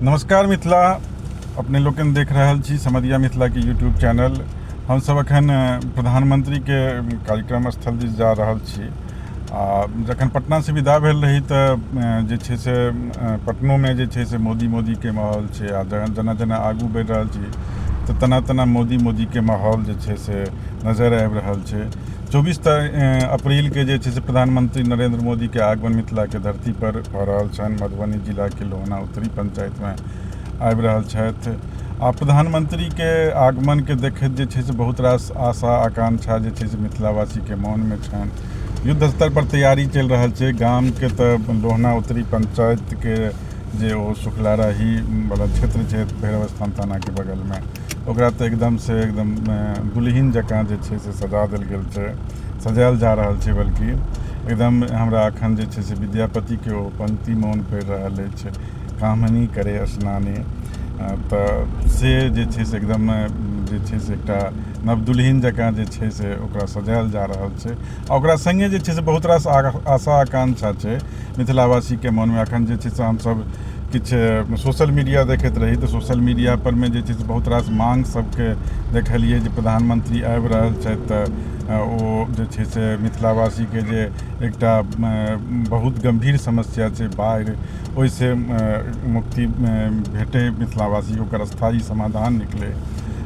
नमस्कार मिथिला अपने लोकनि देख रहल छी समदिया मिथिलाके यूट्यूब चैनल हमसभ एखन प्रधानमंत्रीके कार्यक्रम स्थल दिस जा रहल छी आ जखन पटनासँ विदा भेल रही तऽ जे छै से पटनोमे जे छै से मोदी मोदीके माहौल छै आ जेना जेना आगू बढ़ि रहल छी तऽ तेना तेना मोदी मोदीके माहौल जे छै से नजर आबि रहल छै चौबीस अप्रैल के जे छै से प्रधानमंत्री नरेंद्र मोदी के आगमन मिथिला के धरती पर भऽ रहल छनि मधुबनी जिला के लोहना उत्तरी पंचायत में आबि रहल छथि आ प्रधानमंत्री के आगमन के देखैत जे छै से बहुत रास आशा आकांक्षा जे छै से मिथिलावासी के मन में छनि युद्ध स्तर पर तैयारी चलि रहल छै गाम के तऽ लोहना उत्तरी पंचायत के जे ओ शुक्लाराही वाला क्षेत्र छै भैरवस्थान थाना के बगल में ओकरा तऽ एकदम से एकदम दुलहिन जकाँ जे छै से सजा देल गेल छै सजायल जा रहल छै बल्कि एकदम हमरा अखन जे छै से विद्यापति के ओ पंक्ति मोन पड़ि रहल अछि कामनी करे स्नानी तऽ से जे छै से एकदम जे छै से एकटा नवदुलहिन जकाँ जे छै से ओकरा सजायल जा रहल छै आ ओकरा सङ्गे जे छै से बहुत रास आशा आकांक्षा छै मिथिलावासीके मनमे एखन जे छै से हमसभ किछु सोशल मीडिया देखैत रही तऽ सोशल मीडिया परमे जे छै से बहुत रास माँग सभके देखलियै जे प्रधानमंत्री आबि रहल छथि तऽ ओ जे छै से मिथिलावासीके जे एकटा बहुत गम्भीर समस्या छै बाढ़ि ओहिसँ मुक्ति भेटै मिथिलावासी ओकर स्थायी समाधान निकलै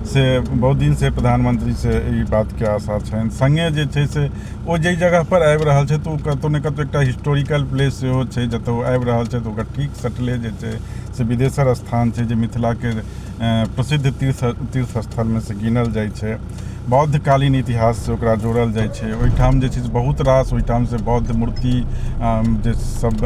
से बहुत दिनसँ प्रधानमंत्रीसँ ई बातके आशा छनि सङ्गे जे छै से ओ जाहि जगहपर आबि रहल छै तऽ ओ कतहु ने कतहु एकटा हिस्टोरिकल प्लेस सेहो छै जतय ओ आबि रहल छै तऽ ओकर ठीक सटले जे छै से बिदेसर स्थान छै जे मिथिलाके प्रसिद्ध तीर्थ तीर्थ स्थलमे से गिनल जाइ छै बौद्ध कालीन इतिहास से ओकरा जोड़ल जाइ छै ओहिठाम जे छै से बहुत रास ओहिठाम से बौद्ध मूर्ति जे सब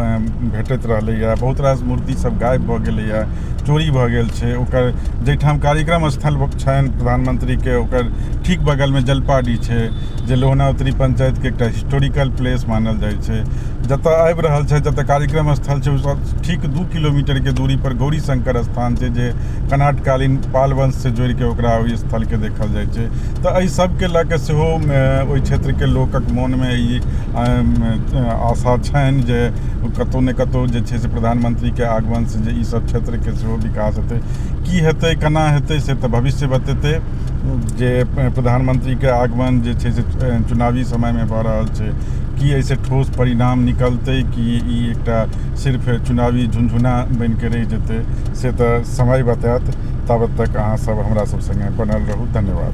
भेटैत रहलैए बहुत रास मूर्ति सब गायब भऽ गेलैए चोरी भऽ गेल छै ओकर जाहिठाम कार्यक्रम स्थल छनि प्रधानमंत्रीके ओकर ठीक बगलमे जलपाडीह छै जे लोहनावत्री पंचायतके एकटा हिस्टोरिकल प्लेस मानल जाइ छै जतऽ आबि रहल छै जतऽ कार्यक्रम स्थल छै ओहिसँ ठीक दू किलोमीटरके दूरीपर गौरी शंकर स्थान छै जे कनाटकालीन पाल वंशसँ जोड़िके ओकरा ओहि स्थलके देखल जाइ छै तऽ एहि सबके लऽ कऽ सेहो ओहि क्षेत्रके लोकक मोनमे ई आशा छनि जे कतहु ने कतहु जे छै से प्रधानमंत्रीके आगमनसँ जे ई सब क्षेत्रके सेहो विकास हेतै की हेतै केना हेतै से तऽ भविष्य बतेतै जे प्रधानमंत्रीके आगमन जे छै से चुनावी समयमे भऽ रहल छै की एहिसँ ठोस परिणाम निकलतै कि ई एकटा सिर्फ चुनावी झुनझुना बनि कऽ रहि जेतै से तऽ समय बतायत ताबत तक अहाँसभ हमरासभ सङ्गे बनल रहू धन्यवाद